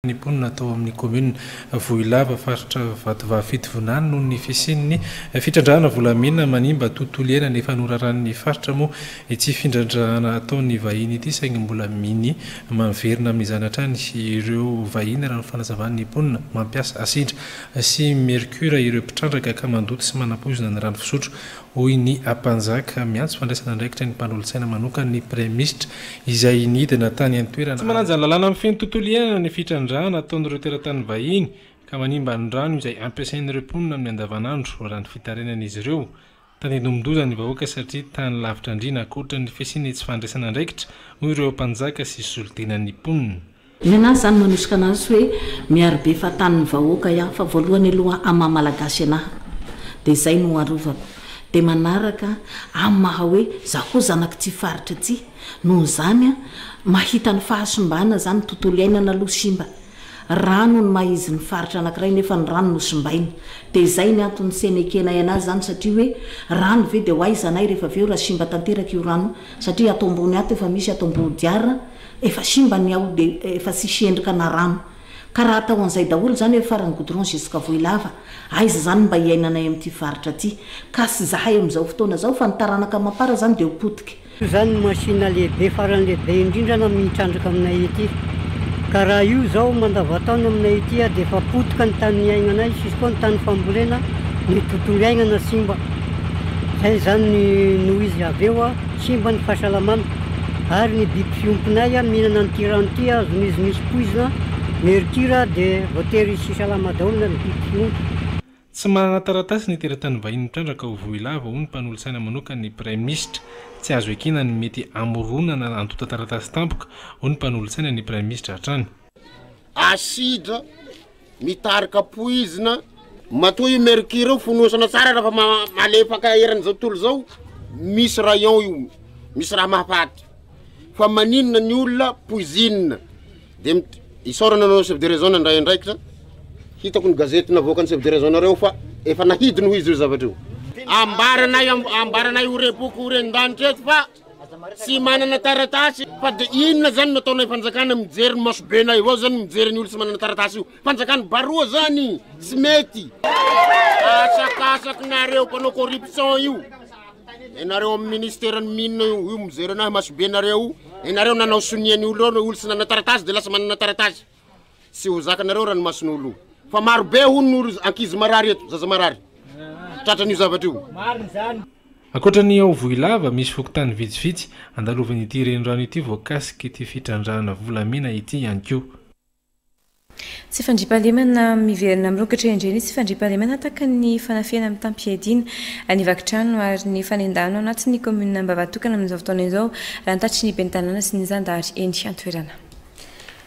ny mponina tao amin'ny kaominina Vohilava, faritra Vatovavy Fitovinany noho ny fisian'ny fitrandrahana volamena manimba tontolo iainana efa noraran'ny faritra moa ity findrandrahana ataon'ny vahiny ity saingy mbola mini maverina amin'izany hatrany ireo vahiny raha ny fanazavan'ny mponina mampiasa asidra sy mercure ireo mpitrandraka ka mandoto sy manapoizina ny rano fisotro Hoy ny Ampanjaka, miantso fandraisana andraikitra ny mpanolotsaina manokana ny Praimisitra izay nidina tany an-toerana Tsy ary. manaja ny lalàna mifehy ny tontolo iainana ny fitrandrahana ataon'ireo teratany vahiny ka manimba ny rano izay ampiasain'ireo mponina amin'ny andavanandro, raha ny fitarenan'izy ireo. Tandindomin-doza ny vahoaka satria tany lavitra andriana ankoatra ny fisian'ny tsy fandraisana andraikitra, hoy ireo Ampanjaka sy solontenan'ny mponina. Nenazy zany manosika anazy hoe miaro be fahatanin'ny vahoaka iaho fa voalohany aloha amin'ny maha malagasy anahy dia izay no arovako dia manaraka amin'ny maha hoe za koa zanaky ity faritra ity noho izany mahita ny fahasimbana zany tontolo iainana aloha simba rano ny maha izy ny faritra anakiray nefa ny rano no simbaina dia izay ny antony senekenay anazy zany satria hoe rano ve dia ho aiza anay rehefa avy eo raha simba tanteraka io rano satria ato ambony ato efa misy ato ambodiara Efa simba ny ao de efa tsisy endrika na rano. Ka raha atao an'izay daholo izany hoe faran'ny goudron jusqu'à Vohilava, aiza izany ny mba hiainanay amin'ity faritra ity? Cas izahay amin'izao fotoana izao fa ny taranaka amam-para izany dia ho potika. Io izany no machine lehibe faran'ny lehibe indrindra na mitrandraka aminay ety. Ka raha io izao mandavantaona aminay ety dia efa potika ny tany niainanay sy koa ny tany fambolena, ny tontolo iainana simba. Izay izany no izy avy eo. Simba ny fahasalamana ary ny biby fiompinay a mihinana an'ity rano ity a azon'izy misy poizina, mercure a dia voatery tsy salama daholo na ny biby fiompy. Tsy manana taratasy ny teratany vahiny mitrandraka ao Vohilava, hoy ny mpanolotsaina manokana ny praiminisitra. Tsy azo ekena ny mety hamoronana antontan-taratasy tampoka, hoy ny mpanolotsaina ny praiminisitra hatrany. Acide mitarika poizina. Matoa io mercure io fonosana tsara raha fa malefaka eran'izao tontolo izao, misy rayon io, misy raha mahafaty. Fa maninona ny olona poizinina? Dia isaorana anao chef de région nandray andraikitra, hitako ny gazety navoakan'ny chef de région nareo fa efa nahidiny hoy izy io zavatra io. Ambaranay ambaranay ho repoko ho ren-danitra eto fa. Tsy manana taratasy fa de inona zany no ataonay fanjakana mijery ny masobenay avao zany mijery ny olo tsy manana taratasy io fanjakana baroa zany tsy mety asakasakinareo mpanao corruption io enareo amy ministera ny minina io io mijery anahy masobenareo enareo nanao sonia ny olo olo tsy nanana taratasy de lasa manana taratasy Tsy ho zakanareo ranomason'olo fa maro be hono no ankizy marary eto, zaza marary. Tratran'io zavatra io. Marina izany. Ankoatra ny ao Vohilava, misy fokontany vitsivitsy andalovan'ity renirano ity voakasik'ity fitrandrahana volamena ity ihany koa. Tsy fandriampahalemana miverina mirongatra indray ny tsy fandriampahalemana ataky ny fanafihana mitam-piadiana ny vaky trano ary ny fanendahana ao anatin'ny kaominina Ambavatokana amin'izao fotoana izao, raha ny tatitry ny ben'ny tanàna sy ny zandary eny an-toerana.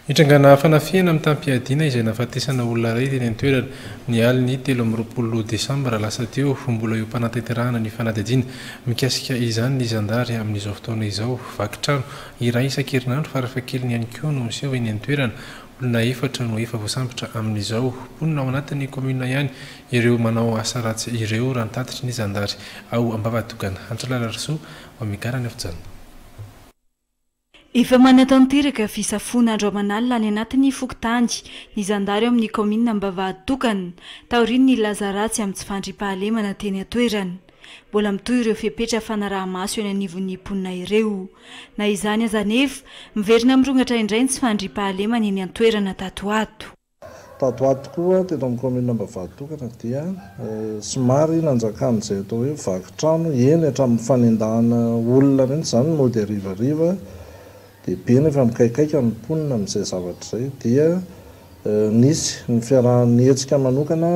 Nitrangana fanafihana mitam-piadiana izay nahafatesana olona iray teny an-toerana, ny alin'ny telo amby roapolo desambra lasa teo. Mbola eo am-panatanterahana ny fanadihadiana mikasika izany ny zandary amin'izao fotoana izao. Vaky trano iray isan-kerinandro farafahakeliny ihany koa no miseho eny an-toerana. Olona efatra no efa voasambotra amin'izao. Mponina ao anatin'ny kaominina ihany ireo manao asa ratsy ireo, raha ny tatitry ny zandary ao Ambavatogana. Andry Lalarisoa, Wamegara News Channel. Efa manatanteraka fisafoana andro aman'alina any anatin'ny fokontany ny zandary ao amin'ny kaominina Ambavahaditokana, taorian'ny nilaza ratsy amin'ny tsy fandriampahalemana teny an-toerana. Mbola mitohy ireo fepetra fanaraha-maso eny anivon'ny mponina ireo. Na izany aza anefa, miverina mirongatra indray ny tsy fandriampahalemana eny an-toerana tato ho ato. Tato ho ato koa, teto amin'ny kaominina Ambavatotokana dia somary nanjakan'izay atao hoe vaky trano, eny hatramin'ny fanendahana olona mihitsy izany mody harivariva, dia be ny efa mikaikaika ny mponina amin'izay zavatra izay. Dia nisy ny fiarahan'ny hetsika manokana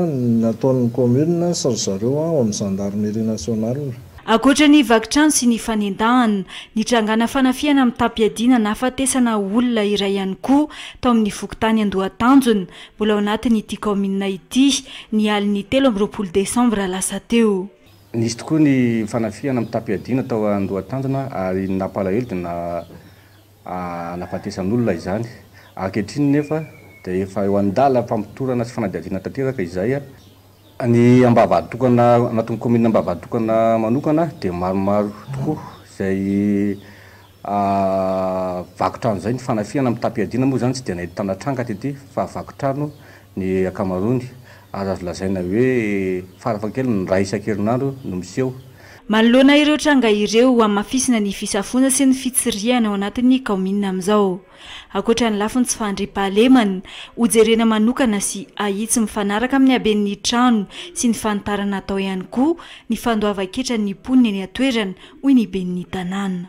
nataon'ny kaominina sy ry zareo ao amin'ny zandarimerià nasionaly. Ankoatra ny vaky trano sy ny fanendahana, nitrangana fanafihana mitam-piadiana nahafatesana olona iray ihany koa tao amin'ny fokontany Andohatanjona, mbola ao anatin'ity kaominina ity, ny alin'ny telo amby roapolo desambra lasa teo. Nisy tokoa ny fanafihana mitam-piadiana tao Andohatanjona ary ny nampalahelo dia nahafatesan'olona izany. Ankehitriny nefa dia efa eo an-dalam-pamotorana sy fanadihadiana tanteraka izay. Ny ambavahaditokana anatin'ny kaominina ambavahaditokana manokana dia maromaro tokoa izay vaky trano izay, ny fanafihana amin'ny tapi-iadiana moa izany tsy dia nahitana tranga tety fa vaky trano ny ankamaroany ary azo lazaina hoe farafahakeliny indray isan-kerinandro no miseho. Manoloana ireo tranga ireo, hamafisina ny fisafoana sy ny fitsirihana ao anatin'ny kaominina amin'izao. Ankoatra ny lafiny tsy fahandriam-pahalemana, hojerena manokana sy ahitsy mifanaraka amin'ny haben'ny trano sy ny fanitarana atao ihany koa ny fandoavan-ketran'ny mponina eny an-toerana, hoy ny ben'ny tanàna.